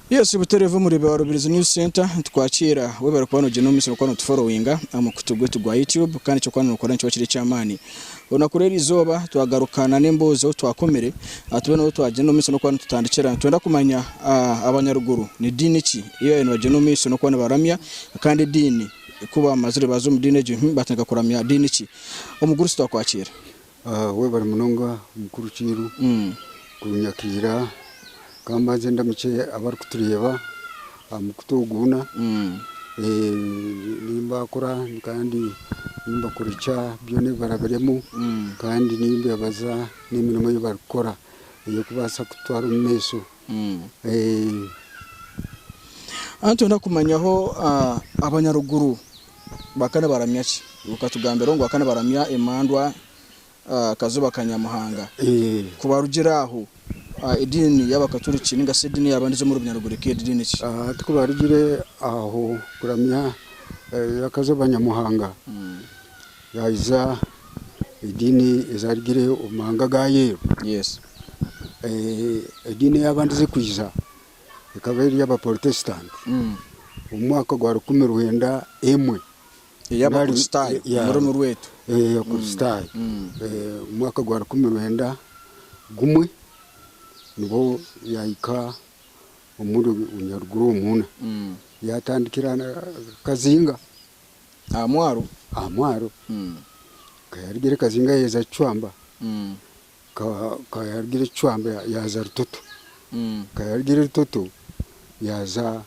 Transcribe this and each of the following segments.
Yes, Butere FM muri ba Rubirizi News Center nitwakira we bari kuba nogyenda omu misiri kuba notuforowinga aha mukutu gwaitu gwa YouTube kandi ekyokuba nookora nikiba kiri eky'amaani. Olunaku rw'eri izooba twagaruka na n'emboozi ahu twakomire tube n'obu twagyenda omu maisho n'okuba nitutandikira. Nitwenda kumanya abanyaruguru ni diini ki ei baabaire nibagyenda omu maisho n'okuba nibaramya kandi ediini ku baamazire baaza omu diini egyo baatandika kuramya diini ki. Omugurusi twakwakiire. Webare munonga mukuru Kiiru kunyakira. Ka mbanze ndamukye abarikutureeba aha mukutu ogu gwona. Nimbaakura kandi nimbakurikya byona ebi barabiremu kandi nimbeebaza n'emirimo ei barikukora ey'okubaasa kututwara omu maisho. Nitwenda kumanyaho abanyaruguru baka nibaramya ki? Okatugambira ngu baka nibaramya emandwa Kazoba ka Nyamuhanga. Ku barugire aho, ediini y'Abakaturiki ninga shi ediini y'abandi z'omuri Bunyaruguru-Eka eri diini ki? Hati ku barugire aho kuramya Kazoba Nyamuhanga, yaayiza ediini ezaarugire omu mahanga ga yeeru. Ediini ey'abandi z'ekwija ekaba eri ey'Abaporotesitanti omu mwaka gwa rukumi rwenda emwe. Ey'Abakristaayo, omu rurimi rwaitu. Ey'Abakristaayo. Omu mwaka gwa rukumi rwenda gumwe, nibwo yaahika omuri Nyaruguru omunda. Yaatandikira Kazinga. Aha mwaro? Aha mwaro. Ka yaarugire Kazinga yaaheza Kicwamba. Ka yaarugire Kicwamba yaaza Rutoto. Ka yaarugire Rutoto yaaza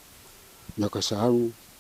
Nyakashaharu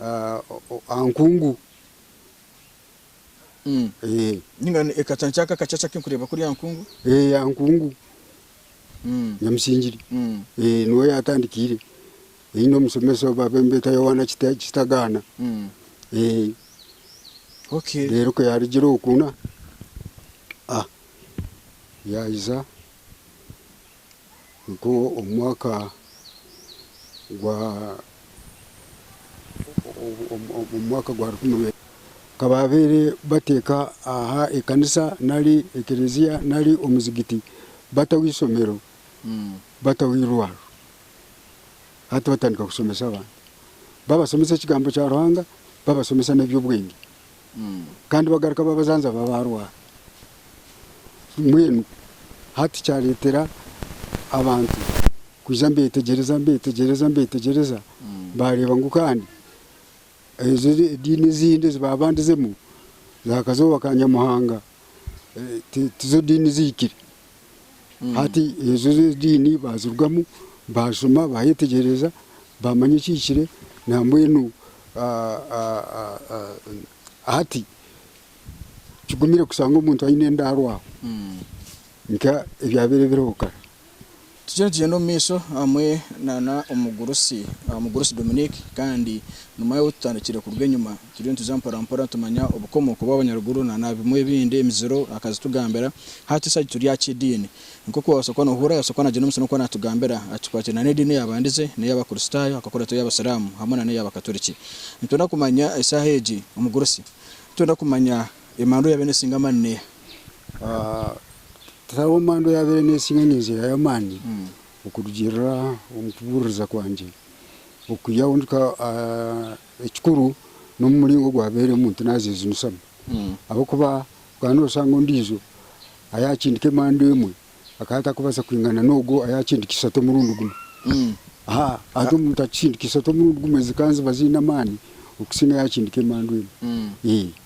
aha nkungu. Ninga ekacanca aka akacaca aku ndikureeba kuri aha nkungu? Ee, aha nkungu Nyamusingiri. Ee, niwe yaatandikiire. Aine omushomesa ou baabeeta Yowaana Kita Kitagaana. Ee. Okay. Reero ku yaarugire okwo, na, a yaahisa. Nikwo omu mwaka gwa omu mwaka gwa rukumi rwe ka baabaire bateeka aha ekanisa nari ekerezia nari omuzigiti, bataho eishomero, bataho eirwariro. Hati batandika kushomesa abantu. Babashomesa ekigambo kya Ruhanga, babashomesa n'eby'obwenge. Kandi bagaruka babajanjaba barwara mbwenu hati kyaretera abantu kwija nibetegyereza nibetegyereza nibetegyereza bareba ngu kandi ezo ediini ezindi ezi baba bandizemu za kazooba ka Nyamuhanga tizo diini zihikire. Hati ezo z'ediini baazirugamu, baashoma baayeetegyereza baamanya ekihikire nambwenu hati kigumire kushanga omuntu aine endaaro aho nk'ebyabaire biriho kare. Tugira nitugyenda omu maisho hamwe na omugurusi, omugurusi Dominic kandi nomanya ou tutandikire kuruga enyima. Turiyo nituza mpora mpora nitumanya obukomoko bw'abanyaruguru na na bimwe ebindi, emiziro akazitugambira. Hati shi turi aha ky'ediini. Nk'oku wabaasa kuba nohurira yabaasa kuba nagyenda omu maisho n'okuba natugambira akikwatire na n'ediini eyabandize, n'eyabakurisitayo akakora ata eyabasiramu hamwe na n'eyabakaturiki. Nitwenda kumanya eshaaha egi omugurusi, nitwenda kumanya. Emandwa yaabaire neesinga amaani n'eha? Tihariho mandwa yaabaire neesinga ninzihaayo amaani okurugiirira omu kubuuririza kwangye okwiha ahu ndikuhika. Ekikuru n'omu muringo ogu waabaire omuntu naazeejunisaamu ahabw'okuba twaba nooshanga ondiijo ayaakindika emandwa emwe akaba atakubaasa kwingana n'ogwo ayaakindika ishatu omurundi gumwe. Hati omuntu akindika ishatu omurundi gumwe zikanziba ziine amaani okusinga ayaakindika emandwa emwe.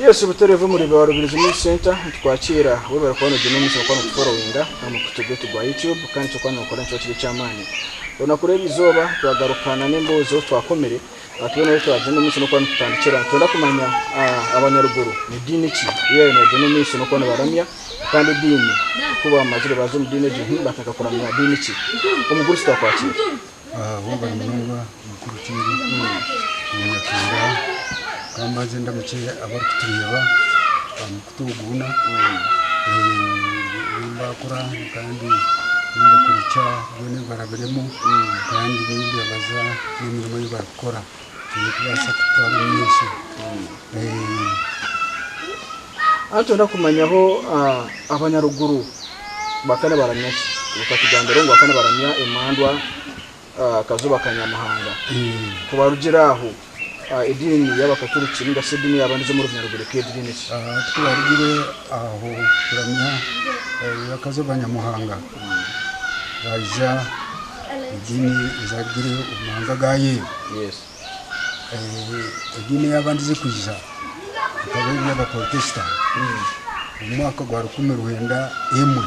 Yes Butooro v'omuri ba Rubirizi News Centre nitwakira waba ori kuba nogyenda omu misho nokuba notuforowinga aha mukutu gwaitu gwa YouTube kandi ekyokuba nokora nikyo kiri eky'amaani. Orunaku rw'erizooba twagaruka na n'embozi ou twakomire Aha twena ahu twaagyenda omu maisho n'okuba nitutandikira. Nitwenda kumanya abanyaruguru ni diini ki ei baabaire nibagyenda omu maisho n'okuba nibaramya. Kandi ediini ku baamazire baaza omu diini egyo nibateekateeka kuramya diini ki? Omugurusi twakwatsire. Bumba munonga mukuru Kiibi, Omunyakyenda. Ka mbanze ndamukye abarikutureeba. kutuguuna nimbakura kandi nimbakurikya byona ebi barabiremu kandi nimbebaza n'emirimo ei barikukora erikubaasa kututwara omu maisho. Nitugyenda kumanyaho abanyaruguru bakaba nibaramya ki? Otugambire ngu bakaba nibaramya emandwa. Akazuba ka Nyamuhanga. Ku barugira aho, ediini y'Abakaturiki ninga shi ediini yaaba niza omu runyiriri Rugiriki egi niine ki? Ku barugire aho kuramya akazuba ka Nyamuhanga, baija ediini ezaarugire omu mahanga ga Yeeru. ediini eyabandize kwija ekaba eri eya baporotesitani omu mwaka gwa rukumi rwenda emwe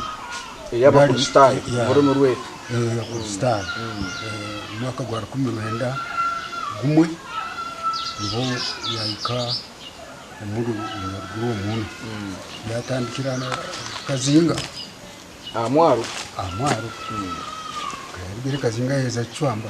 Eyabakristaayo, Bari- yeah. orurimi rwaitu. Eh, abakristaayo Eh, omwaka gwa rukumi rwenda gumwe niho yahika omuri omuruguru omunu yatandikira kazinga aha mwaro aha mwaro kayarugire kazinga yaheza kicwamba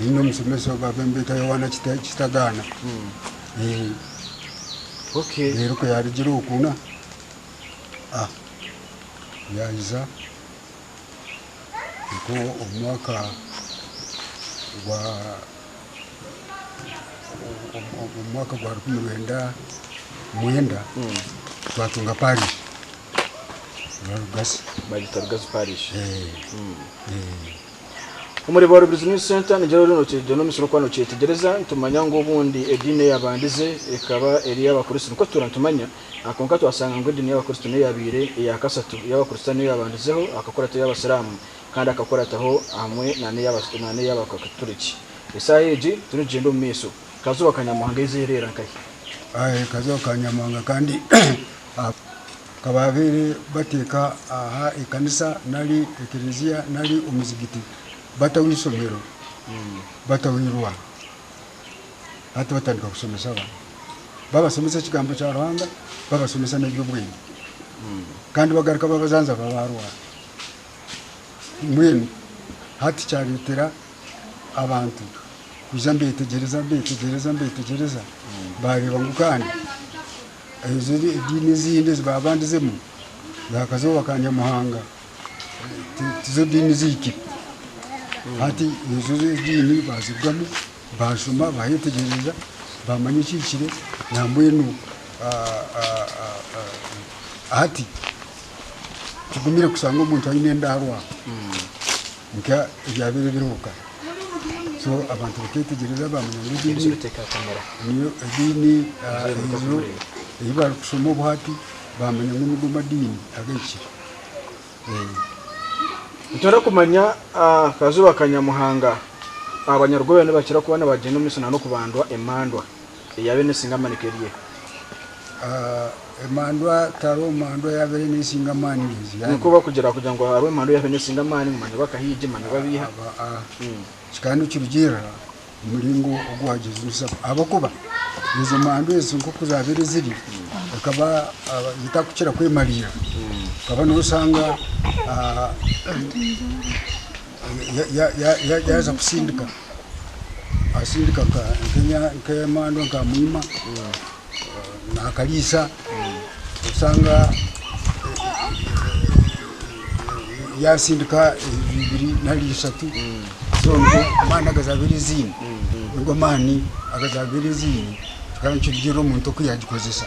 Nyine omushomesa ogu aba embeeta Yohaana Kita- Kitagaana. Eh, Okay. reero ku yaarugire oku na ah, yaahisa nko omu mwaka gwa omu- omu- omu mwaka gwa rukumi rwenda mwenda twatunga parish Rugasi. Bagita Rugazi Parish. Eh, eh. Omuri Boro Business Centre nigira ori nokigira nomisiri okuba nokyetegyereza nitumanya ngu obundi ediini eyabandize ekaba eri eyabakuristo nikwo tutuura nitumanya aha kwonka twasanga ngu ediini yabakuristo neyabaire eyakasatu eyabakuristani eyabandizeho akakora ata eyabasiramu kandi akakora ataho hamwe nana eyabakaturiki esaaha egi turikugyenda omu maiso Kazuba ka Nyamuhanga eizi ereera nkahi? Kazuba ka Nyamuhanga kandi Ka baabaire bateeka aha ekanisa nari ekerezia nari omuzigiti bataho eishomero, bataho eirwa, hati batandika kushomesa abaana. Babashomesa ekigambo kya Ruhanga, babashomesa n'eby'obwengye. Kandi bagaruka babajanjaba baarwara. Mbwenu hati kyareetera abantu kwija mbeetegyereza, mbeetegyereza, mbeetegyereza, baareeba ngu kandi. Ezo ediini ezindi ezi baabandizemu zaakazooba ka Nyamuhanga tizo diini zaaitu. Hati ezo ediini baazirugamu, baashoma baayetegyereza baamanya ekihikire nambwenu hati kigumire kushanga omuntu aine endaarwa. Nka ebyabaire biriho kare. So abantu baketegyereza bamanya ngu egi niyo ediini ei barikushoma obuhati bamanya ngu nigo madiini agahikire. Otarikumanya akazuba ka Nyamuhanga. Abanyaruguru nibakira kuba nibagyenda omu isina n'okubandwa emandwa. Eyaabaire neesinga amaani ku eri eha? Emandwa tihariho mandwa eyaabaire neesinga amaani ngu ezi yaaba eri. Nikwo bakugira kugira ngu hariho emandwa eyaabaire neesinga amaani ngu manya bakahaija, manya babeiha. Aba a. Kikaba nikirugiirira omu muringo ogu waagyezunisa. Ahabw'okuba ezo mandwa ezo nk'oku zaabaire ziri, zikaba zitarikukira kwemariira. Okaba nooshanga. Yaaza kusindika, asindika nk'emandwa nka mwima naakariisa, oshanga yaasindika ibiri nari ishatu zoona amaani agazaabaire aziine, nigo maani agazaabaire aziine, tikaanikyo omuntu oku yaagikozesa.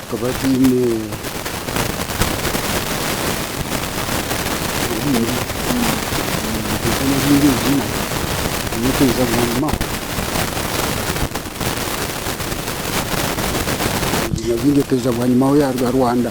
Tukaba twine ebiina bingi twaiza bwanyima aho yaaruga Rwanda.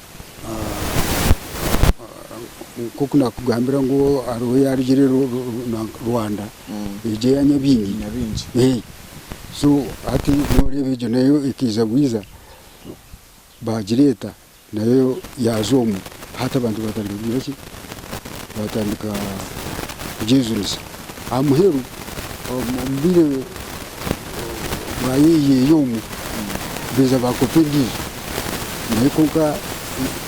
nkoku nakugambira ngu hariho eyarugire Rwanda egyo eya Nyabingi so hati noreeba egyo nayo ekaiza bwiza bagireeta nayo yaaza omwo hati abantu batandika kugira ki? baatandika kugyejunisa. Aha muheru omu bwire bwa yeeyi eri omu, baija baakopa endiijo. Naye kwonka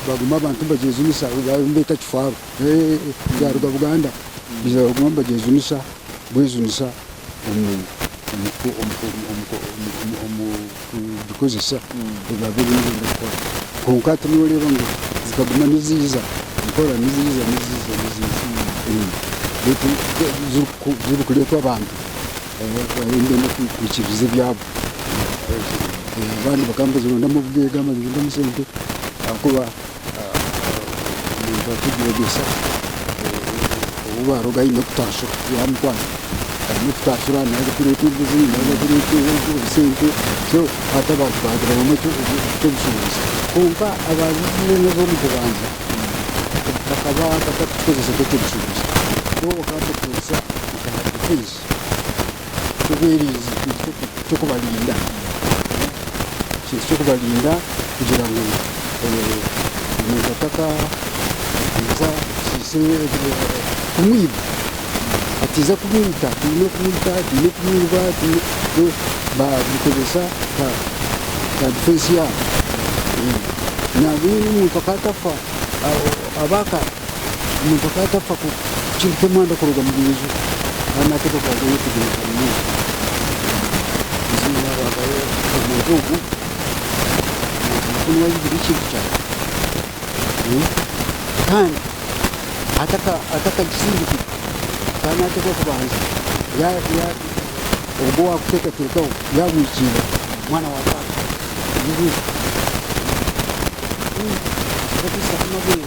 baaguma abantu nibagyejunisa egi bariyo nibeeta kifaaru. Yaaruga Buganda baija baaguma nibagyejunisa bwejunisa omu omu omu omu omu omu. kugikozesa ebabe eriyo neeyenda kukora. Kwonka hati nooreeba ngu zikaguma niziija mpora, niziija niziija niziija beitu zirikureetwa abantu abarikuba nikwenda kwikiririza ebyabo. Abandi bakaba nibazirondamu obugaiga, nibazirondamu sente ahabw'okuba. omuntu arikugyegyesa ou baaruga aine kutaashuka yaaba amukwata aine kutaashura naaza kureetwa embuzi naaza kureetwa sente so hati abantu baagirabwamu eky'obushuubuzi kwonka abantu boona ab'omu bubanza bakaba batakukikoresa nk'eky'obushuubuzi bo bakaba nibakikoresa nka defense. eky'obwerinzi eky'okubarinda ekintu ky'okubarinda kugira ngu omuntu atakabakwatisa kumwiba atiza kumwita tihaine okumwita tihaine okumwiba babikozesa nka difensi yaabo nabwo omuntu akaba atafa omuntu akaba atakufa kucumita emanda kuruga omu nju kandi n'ateekwa kuba ayetegereza munonga. Eiziina Rwagayo omuntu ogwo niwe ayeihire ekintu kyangye kandi atakakisindikire akaba naateekwa kubanza ogwo owaakuteekateekaho yaamwikiirira mwana wa taata.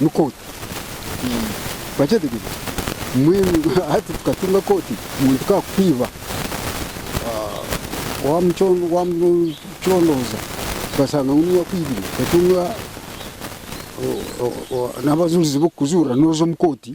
ni kooti. Twakyetegyereza, mbwenu hati tukatunga kooti ngu tikakukwiba, wamucondooza tukashanga ngu niiwe akwibire, tukatunga n'abajuurizi b'okukujuurira, nooza omu kooti.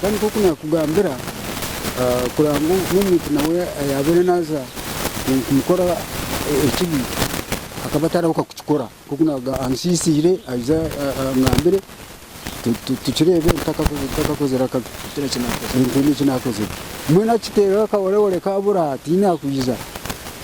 Kandi nk'oku naakugambira, kurora ngu n'omuntu nawe ayaabaire naaza kumukora ekibi, akaba atarabaasa kukikora. Nk'oku ansiisiire aija angambire, tukireebe ntakakozire akabi. Tihaine eki naakozire. Mbwenu akiteerera akaworewore kaabura, tihaine arikwija.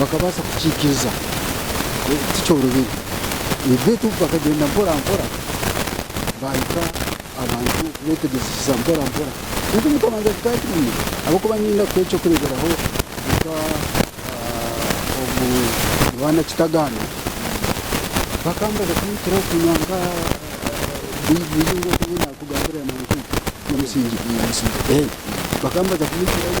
bakabaasa kukiikiriza tikyorobire beitu bakagyenda mporampora baahika abantu kubeetegyesesa mporampora beitu omu kubanza kikaba kibi ahabw'okuba niinda kuha eky'okureeberaho nka omu Yohaana Kitaganda bakambaza kunyitiraho kunywa nka baiburi nk'oku nyowe naakugambira na Musingye bakambaza kunyitirayo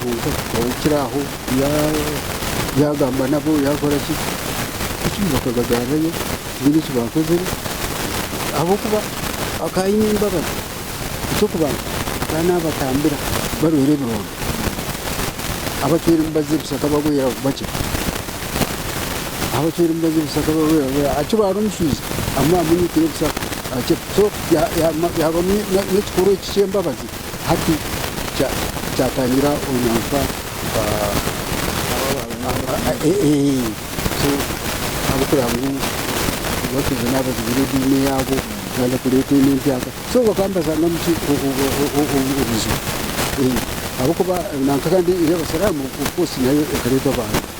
kwonka okukira aho yagamba nabo yakoraki bakagagarrayo tihaine eki bakozire ahabw'okuba akaba aine embabazi eky'okubanza akaba nabatambira barwaire ebironda abacwera emibazi ebishaka barwaire bakira abacwera emibazi ebishaka barwaire akira ari omushwija amunyitire ebishaka akira so yaba n'ekikorwa eki ky'embabazi. Hati kyatangira orunyankwa ahabw'okureba ngu abashaija nabo bazibire ediini yaabo baaza kureeta enu empya so bakaba nibazanga omu ki obuzibu ahabw'okuba nanka kandi ey'abasiramu of course nayo ekareetwa abantu.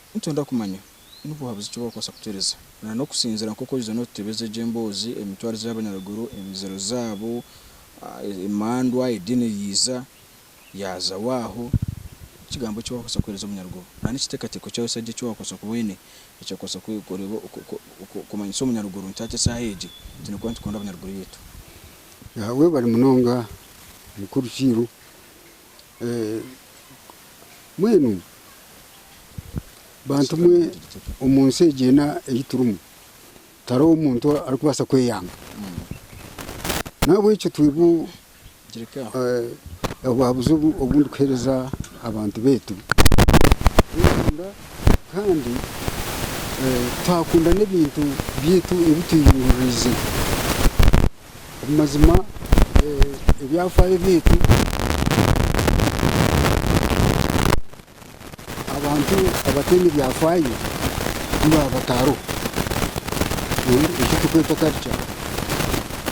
Nitwenda kumanya ni buhabuzi ki bw'okubaasa kutuheereza na n'okusinziira nk'oku oriija nootutebeza egyo emboozi, emitwarize y'abanyaruguru, emiziro zaabo, emandwa, ediini eriiza yaaza waaho, ekigambo ki waakubaasa kuheereza omunyaruguru na n'ekiteekateeko kyawe sa gye eki waakubaasa kuba oine ekyakubaasa kureeba kumanyisa omunyaruguru nti hati eshaaha egi twine kuba nitukunda abanyaruguru baitu. Webare munonga mukuru Kiiru. Mbwenu bantumwe omu nsi egi ena ei turimu, tihariho muntu arikubaasa kweyanga. Nahabwekyo twebwe obwabuzi obu ndikuheereza abantu baitu, kweyanga kandi twakunda n'ebintu byaitu ebi tweyerondeize. Omu mazima ebyafaayo byaitu abantu abataine byafaayo tibaba batariho. Eki turikweta culture,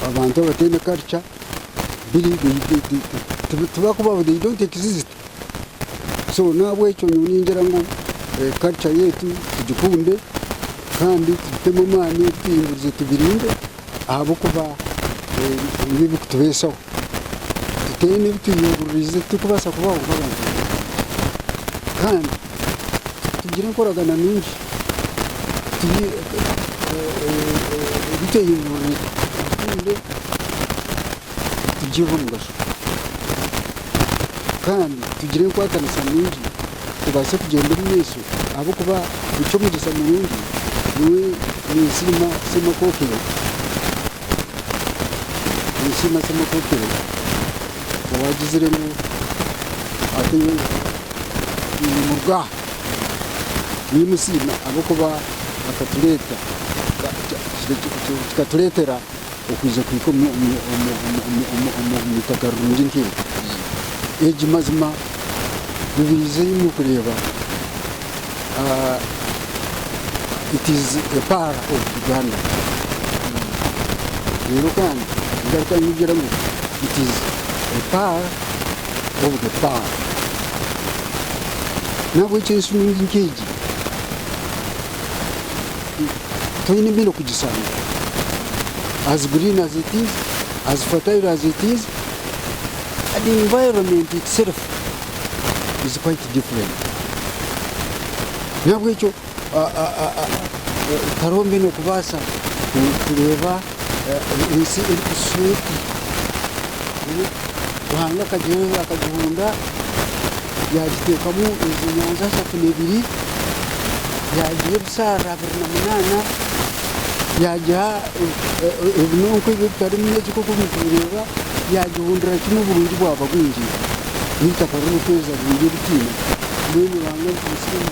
abantu abataine culture tibarikubaho, they don't exist. So n'ahabw'ekyo nyowe ningira ngu karuca yaitu tugikunde kandi tugitemu amaani, tugihingurize tugirinde ahabw'okuba niyo erikutubeesaho. Tutaine ebi twehinguririize titurikubaasa kubaho nk'abantu kandi tugire enkoragana nungi ebi twehinguririize tugikunde. nitugirira omugasho kandi tugire enkwatanisa nungi tubaase kugyenda omu maisho ahabw'okuba nikyo omugyesa murungi nyowe ninsiima Ssemakokiro ninsiima Ssemakokiro owaagizire ngu ateireho twine omuruga aha ninsiima ahabw'okuba akatureeta kikatureetera okwija kuhika omu itaka rirungi nk'eri. Mazima ribaize imwe kureeba it is a pearl of Uganda reero kandi ningaruka ningira ngu it is a pearl of the pearl n'ahabw'ekyo enshuumo nk'egi. toine mbwenu okugishanga as green as it is, as fertile as it is and environment itself is quite different nahabwekyo hariho mbwenu okubaasa kureeba. ensi erikushusha oti, Ruhanga akagihonda yaagiteekamu ezi nyanja ishatu na ibiri, yaagiha ebisharara abiri na munaana, yaagiha ebinonko ebi ebitarimu megi nk'oku murikubireeba, yaagihondera kimwe oburungi bwaba bwingi, n'eitaka ririkwezimba rirungi eritaine, mbwenu Ruhanga arikugusiima.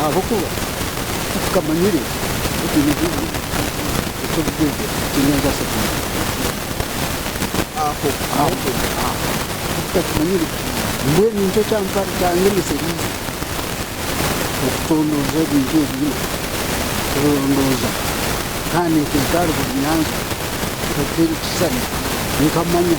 ahabw'okuba tukamanyire mbwenu nikyo kyandemesereze okutondooza ebintu ebi kurondooza kandi nkateeka aha rubaju nyanza nkateera ekishushani nkamanya.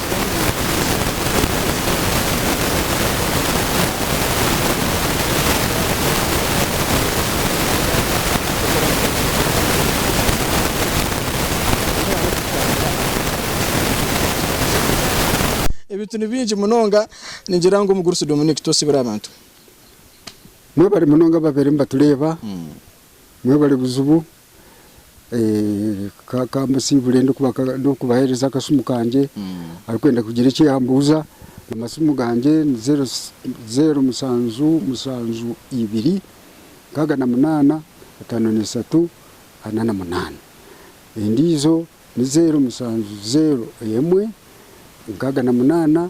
Ebintu ni bingi munonga ningira ngu omugurusi Dominic twosibire abantu. Mwebale munonga ababaire nibatureeba, mwebale buzibu. Kansiibure ndikubahereza akasimu kangye arikwenda kugira eki yambuuza. Amasimu gangye ni zeero mushanju mushanju ibiri nkaaga na munaana etaano na ishatu ana na munaana. Endiijo ni zeero mushanju zeero emwe nkaaga na munaana